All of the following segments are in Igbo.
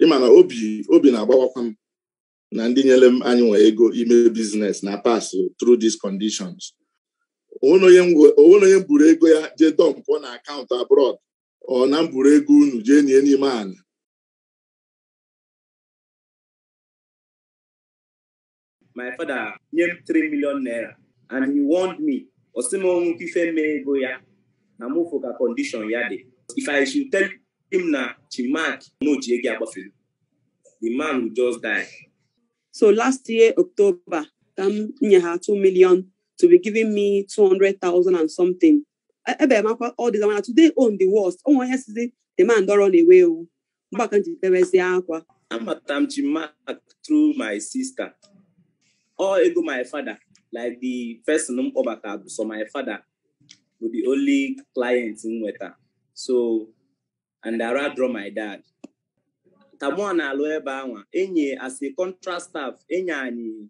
ịma na obi na-agbawakwa m na ndị nyere m anyị nwe ego ime business na-pass through these conditions onye m buru ego ya jee dọmpụ na akaụntụ abroad ọ na m buru ego unu jee nie n'ime ala my father nye m 3 million naira and he warned me ọ sị m o nwee ife mee ego ya na m fụ ka condition ya dị if I should tell him na Chinmark na o ji ego agbafere the man will just die so last year October ka m nye ha 2 million to be giving me 200,000 and something ebe m akwa all this mana today own the worst o nwe onye sizi the man don run away ewu mgbe ka m ji bewezie akwa amata m Chinmark through my sister ọ ego my father like the person m kpọbata bụ sọ my father bụ the only client m nweta so and I rather draw my dad ka mụ na-alụ ebe anwa enye as a contract staff enye anyị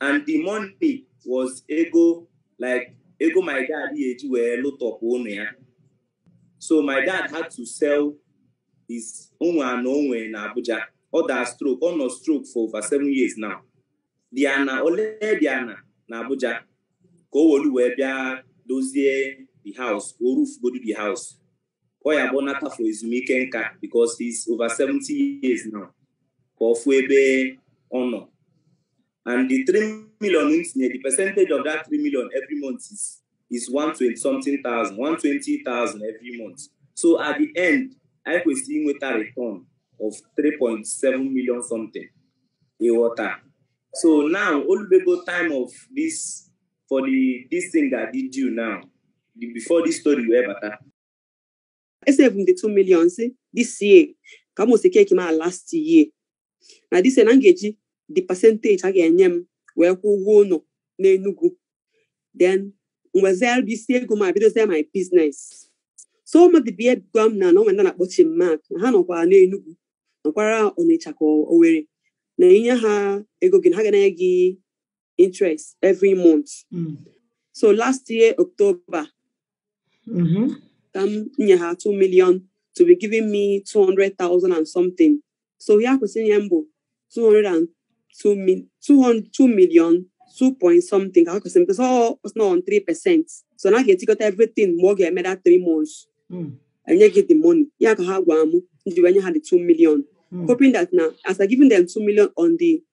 and the money was ego like ego my dad ya-eji wee lụtọpụ ụnọ ya so my dad had to sell his o nwe ana o nwe na Abuja ọ daa stroke ọ nọ stroke for over seven years now the ana o le the ana na Abuja ka o wolu wee bịa dozie the house o rufugodu the house ọ ya-abụ ọ nata for ezumike nka because he's over 70 years now ka ọ fụ ebe ọ nọ and the 3 million m tinye the percentage of that 3 million every month is is 120 something thousand 120,000 every month so at the end anyị kwesịrị inweta return of 3.7 million something ị ghọta so now o lubego time of this for the this thing ga-adị due now before this story wee bata esave m the 2 million sị this year ka m osi keki ma last year na this year na m ga-eji the percentage a ga-enye m wee kwụọ ụgwọ ụnọ n'Enugu then m wezilu isi ego m bidozie my business so mmadụ bịa gwa m na na o nwe ndị a na-akpọ Chinmark na ha nọkwara n'Enugu nọkwara Ọnịcha ka Owerri na i nye ha ego gị na ha ga-enye gị interest every month mm. so last year october mm-hmm. ka m nye ha 2 million to be giving me 200,000 and something so ya kwesịrị inye m bụ 202 million 2 point something ka ha kwesịrị because all was not on 3 percent so na a ga-etikọta everything mgbe ọ ga-eme that 3 months mm. e nye gị the money ya ka ha gwa m m ji wee nye ha the 2 million mm. hoping that na as I giving them 2 million on the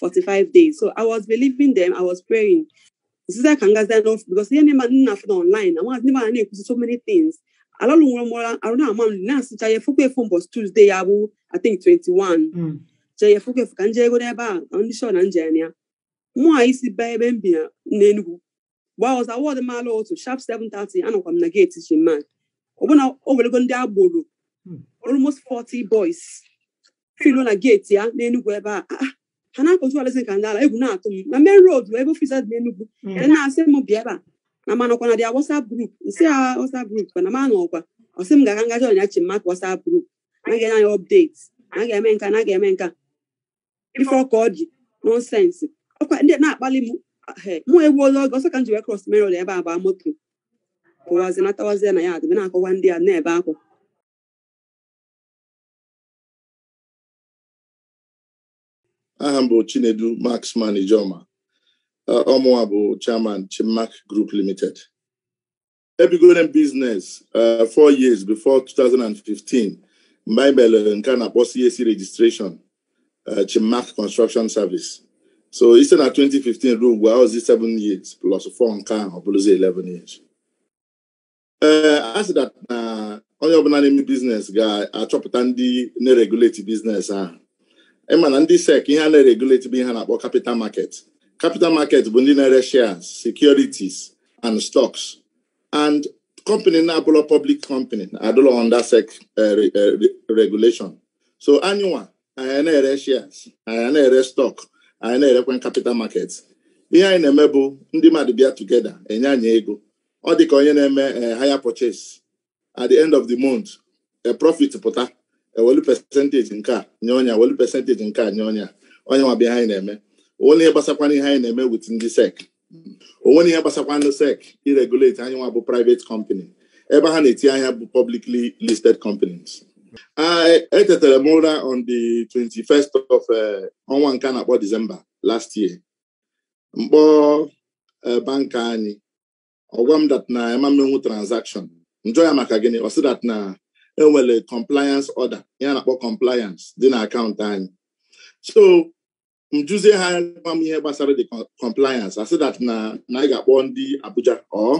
45 days so i was believing them i was praying sister ka ngazi anọ because ihe na-eme m na-afụ na online na nwaazị ndị na-ekwusi so many things alalụ nwere mụra arụ na-ama m na-asịcha ya efukwa efu mbọsị Tuesday ya bụ i think 21 hmm. chee ya efukwa efu ka m jee go n'ebe a na ndị shọ na nje ya mụwa esi baa ebe m bi na n'Enugu mgbe ahụ ọzọ awọdụ m ala otu sharp 7:30 anọkwa m na geeti Chinmark ọbụna o welego ndị agboro Hmm. almost 40 boys filu na geeti ya n'enugwu ebe a Ah, ah, ha na-akọtu alazi ka ndị ala egwu na-atụ m na main road bụ ebe ofiisi dị n'enugwu Mm. ya na-asị m bịa ebe a na m anọkwa na their WhatsApp group m sị ya WhatsApp group kwa na m anọkwa ọ sị m gaa ka m ga join ya Chinmark WhatsApp group na ga-enye anyị update na ga-eme nka na ga-eme nka ife ọka ọ ji nonsense ọkwa ndị na-akpali m mụ ewuola oge ọsọ ka m ji wee cross main road ebe a baa moto pụwazi natawazie na ya adịbe na-akọwa ndị a na-ebe akwa aha m bụ Chinedu Marksman Ijiomah ọ mụwa bụ chairman Chinmark Group Limited ebidoro m business uh, four years before 2015 mgbe anyị mere nke a na-akpọ CAC registration uh, Chinmark Construction Service so i site na 2015 ruo ugbu a ọ bụzị 7 years plus 4 nke ahụ ọ bụrụzi 11 years ee eh, a sị that na onye ọbụla na-eme business ga-achọpụta ndị na-regulate business ahụ ị ma na ndị SEC ihe ha na-regulate bụ ihe a na-akpọ capital market capital market bụ ndị na-ere shares securities and stocks and company na-abụlọ public company adụlọ under SEC eh, eh, regulation so anyịnwa anyị ana-ere shares anyị ana-ere stock anyị ana-erekwa capital market ihe anyị na-eme bụ ndị mmadụ bịa together enye anyị ego ọ dị ka onye na-eme eh, hire purchase at the end of the month if profit pụta ewelu percentage nke a nye onye a ewelu percentage nke a nye onye a ọ ya nwa bụ ihe anyị na-eme o nwerọ ihe gbasakwana ihe anyị na-eme with ndị SEC o nwerọ ihe gbasakwa ndị SEC iregulate anyịnwa bụ private company ebe ha na-eti anya bụ publicly listed companies etetara m ụra on the 21st of eh, ọnwa nke a na-akpọ December last year m kpọọ eh, banker anyị ọ gwa m that na m ama emenwu transaction m jụọ ya maka gịnị ọ sị that na e nwere compliance order ihe a na-akpọ compliance dị na akaụntụ anyị so m jụzie ha gwa m ihe gbasara the compliance a sị that na na anyị ga-akpọ ndị Abuja or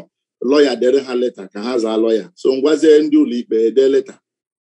lawyer dere ha leta ka ha zaa lawyer so m gwazie ndị ụlọikpe dee leta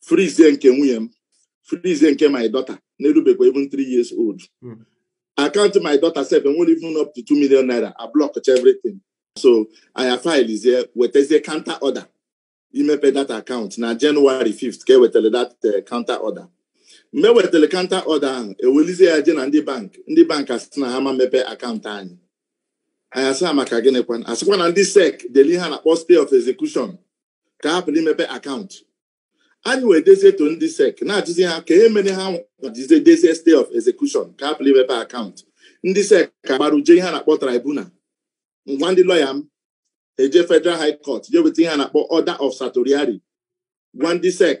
frizie nke nwunye m frizie nke my daughter na-erubekwa even three years old hmm. account my daughter sef enwerọ even up to two million naira a block everything so anyị filezie wetazie counter order imepe that account na January 5th ka ewetara that eh, counter order mgbe e wetara counter order ahụ ewelizie ya je na ndị bank ndị bank asị na ha ama emepe akaụntụ anyị anyị asị ha maka gịnịkwa asịkwa na ndị sec deli ihe a na-akpọ stay of execution ka hapụrụ imepe akaụntụ anyị wee dezie to ndị SEC na-ajụzi ha ka ihe mere ha jizie dezie stay of execution ka hapụrụ imepe akaụntụ ndị SEC agbara je ihe a na-akpọ tribunal ngwa ndị lọya m eje federal high court je weta ihe a na-akpọ order of certiorari gwa ndị SEC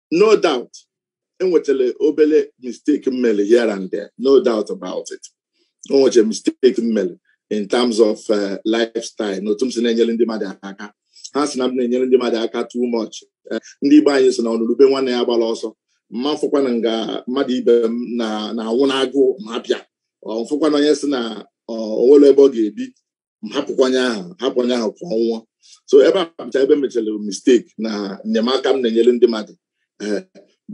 no doubt e nwechara obere mistake m mele here and there no doubt about it o nwechara mistake m mele in terms of uh, lifestyle na otu m si na-enyere ndị mmadụ aka ha si na m na-enyere ndị mmadụ aka too much uh, ndị Igbo anyị sị na ọnụrụ ube nwanne ya agbala ọsọ m ma afụkwanụ nga mmadụ ibe m na-anwụ n'agụụ m hapụ ya m fụkwa na onye sị na o nwerọ ebe ọ ga-ebi hapụkwa onye ahụ hapụkwa onye ahụ ka ọ nwụọ so ebe a bụcha ebe m mechara mistake na enyemaka m na-enyere ndị mmadụ eh,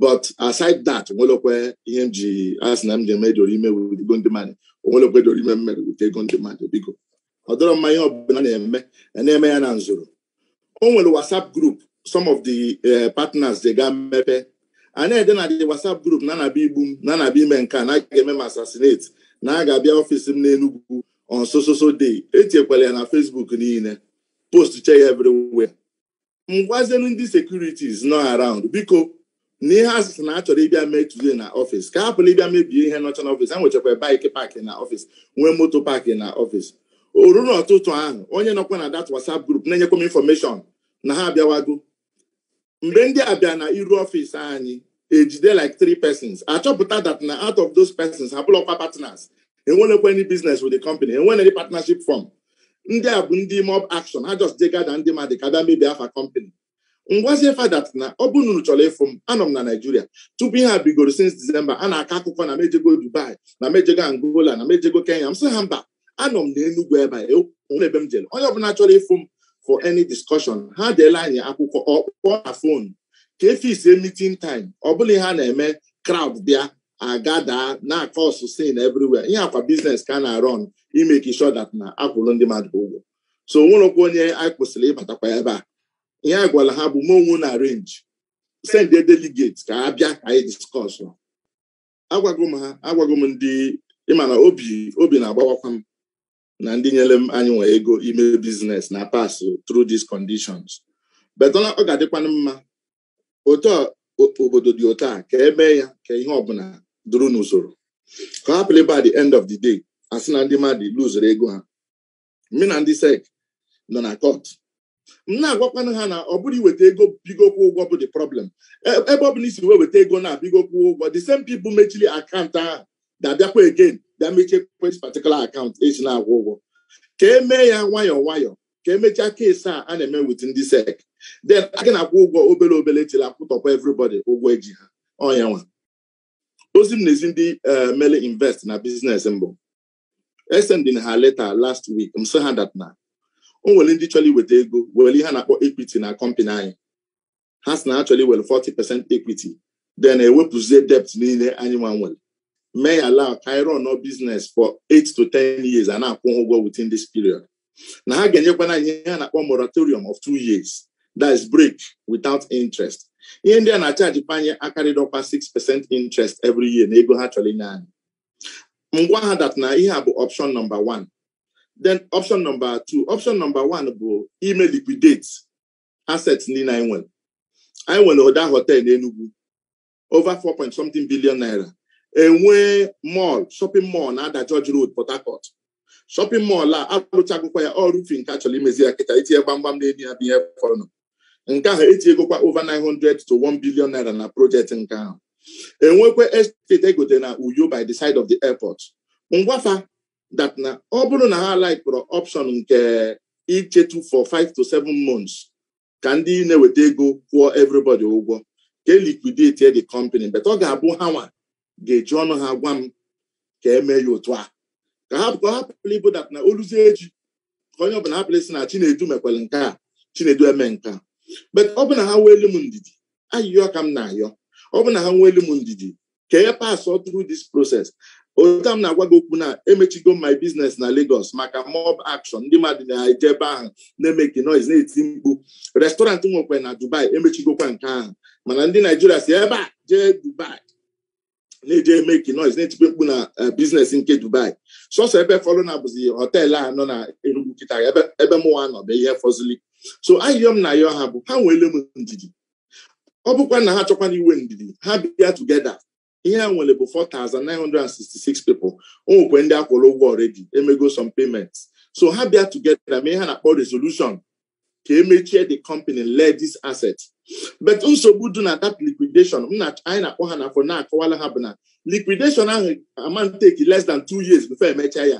but aside that o nwelọkwa ihe m ji asị na m ji eme dorime with ego ndị mmadụ o nwelọkwa dorime m mere with ego ndị mmadụ biko ọ dịrọ mma ihe ọbụla a na-eme a na-eme ya na nzoro o nwere WhatsApp group some of the eh, partners je ga mepe a na-ede na the WhatsApp group na a na-abịa igbu m na a na-abịa ime nke a na a ga-eme m assassinate na a ga-abịa ọfịs m n'Enugwu on so so so day etiekwala ya na Facebook niile postchaa ya everywhere m gwazienu ndị securities nọ around biko na ihe asịsị na achọrọ ịbịa mee today na ọfịs ka hapụrụ ịbịa mebie ihe nọcha na ọfịs ha nwechakwa bike park na ọfịs nwee moto park na ọfịs o ruru ọtụtụ ahụ onye nọkwa na that WhatsApp group na-enyekwa m information na ha abịawago mgbe ndị a bịa na iru ọfịs anyị ejide like three persons achọpụta that na out of those persons ha abụrọkwa partners enwelọkwa any business with the company enwerọ any partnership form ndị a bụ ndị mob action ha just dey gather ndị mmadụ ka bịa mebie afa company m gwazie fa that na ọ bụ na unu chọrọ ịfụ m anọ m na naijiria tupu ihe a bidoro since disemba a na-akọ akụkọ na m ejego dubai na m ejego angola na m ejego kenya m sị ha mba anọ m na enugwu ebe a o nwerọ ebe m jere onye ọbụla chọrọ ịfụ m for any discussion ha deela anyị akwụkwọ or kpọọ na fon ka e fix meeting time ọ bụrọ ihe a na-eme crowd bịa agather na-acause scene everywhere ihe a kwa business ka a na-run i make sure that na akwụrụ ndị mmadụ ụgwọ so o nwerọkwa onye anyị kwụsịrị ịbatakwa ebe a ihe a gwara ha bụ mee onwe unu arrange send a delegate ka ha bịa ka anyị discuss agwago m ha agwago m ndị ịma na obi obi na-agbawakwa m na ndị nyere m anyị nwa ego ime biznes na pass through these conditions but ọ ga-adịkwanụ mma otu obodo dị otu a ka emee ya ka ihe ọbụla duru n'usoro ka hapụla ịbụ at the end of the day asị na ndị mmadụ luzuru ego ha mụ na ndị sek nọ na kọt m na-agwakwana ha na ọ bụrọ iweta ego bido kwụ ụgwọ bụ the problem E- ebe ọ bụla ị si wee weta ego na bido kwụ ụgwọ the same people mechiri akaụntụ ahụ ga-abịakwa again bịa mechie this particular akaụntụ esi na-akwụ ụgwọ ka emee ya nwayọọ nwayọọ ka emechaa keesi a a na-eme with ndị sek then a ga na-akwụ ụgwọ obere obere till akwụtọkwa everybody ụgwọ eji ha ọ nya nwa ozi m na-ezi ndị eh, mere invest na biznes mbụ esendi m ha leta last week m sị ha dat na o nwere ndị chọrọ iweta ego were ihe a na-akpọ ekwiti na kọmpanị anyị ha sị na ha chọrọ iwere 40 percent ekwiti then ewepụzie debt niile anyị nwa nwere mee ya allow ka anyị run business for 8 to 10 years a na-akwụ ha ụgwọ within this period na ha ga-enyekwana anyị ihe a na-akpọ moratorium of two years that is break without interest ihe ndị a na-achaji panye akarịdọkwa 6 percent interest every year na ego ha chọrọ inye anyị m gwa ha dat na ihe a bụ option nọmba 1 then option nọmba 2 option nọmba 1 bụ ime liquidate asset niile anyị nwere anyị nwere ụda hotel n'Enugu over 4 point something billion naira enwee mall shopping mall na Ada George Road Port Harcourt shọpịn mọl a alụchagokwa ya ọ roofing ka a chọrọ imezi ya kịta itinye gbamgbam n'enu ya bụ ihe fọrọ na nke ahụ etinyegokwa over 900 to 1 billion naira na projekti nke ahụ enwekwa estate egote na uyo by the side of the airport m gwa fa that na ọ bụrụ na ha laikịrọ option nke ichetu for 5 to 7 months ka ndị na-eweta ego kwụọ everybody ụgwọ ka e liquidate the company but ọ ga-abụ ha nwa ga-eji ọnụ ha gwa m ka eme ya otu a ka ha ka ọ hapụla ịbụ dat na o luzie echi ka onye ọbụla hapụla ịsị na chinedu mekwere nke a chinedu eme nke a but ọ bụ na ha weelu m ndidi ayịyọ ka m na-ayọ ọ bụ na ha nweelu m ndidi ka e pasụọ through this process otu m na-agwa gị okwu na emechigo my business na Lagos maka mob action ndị mmadụ na-eje ebe ahụ na-emeki noise na-eti mkpu restaurant nwekwa na Dubai emechigokwa nke ahụ mana ndị Naijiria si ebe a jee Dubai na-eje emeki noise na-etikwa mkpu na eh, biznes nke Dubai sọsọ ebe fọlụnụ bụzi họteelụ a nọ na Enugu kịta ebe mụwa nọ bụ ihe fọzili so ayịyọ m na-ayọ ha bụ ha nweele m ndidi ọ bụkwa na ha chọkwana inwe ndidi ha bịa together ihe a nwere bụ 4,966 people o nwekwe ndị a kwụrụ ụgwọ already emego some payments so ha bịa together mee ihe a na-akpọ resolution ka e mechie the company lee this asset but nsogbu dị na that liquidation anyị na-akpọ ha na-akọ na-akọwala ha bụ na liquidation ahụ ama take less than two years before e mechaa ya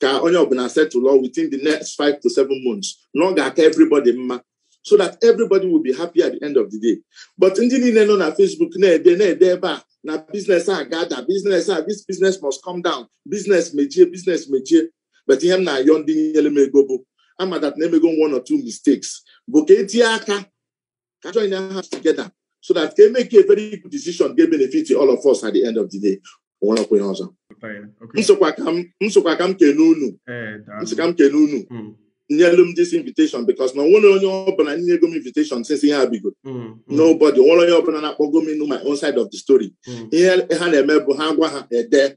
ka onye ọbụla settle within the next five to seven months na ọ ga-aka everybody mma so that everybody will be happy at the end of the day but ndị niile nọ na Facebook na-ede na-ede ebe a na business a ga-ada business a this business must come down business mechie business mechie but ihe m na-ayọ ndị nyere m ego bụ ama that na emego one or two mistakes bụ ka e tinye aka ka a join hands together so that ka e make a very good decision ga-benefit all of us at the end of the day o nwerekwa ihe ọzọ m sịkwa ka m kene unu m sị ka m kene unu nyelu m this invitation because na o nwerọ onye ọbụla nyego m invitation since ihe a bido mm, mm. nobody o nwerọ onye ọbụla na-akpọgo m ịnụ my own side of the story mm. ihe ha na-eme bụ ha gwa ha ede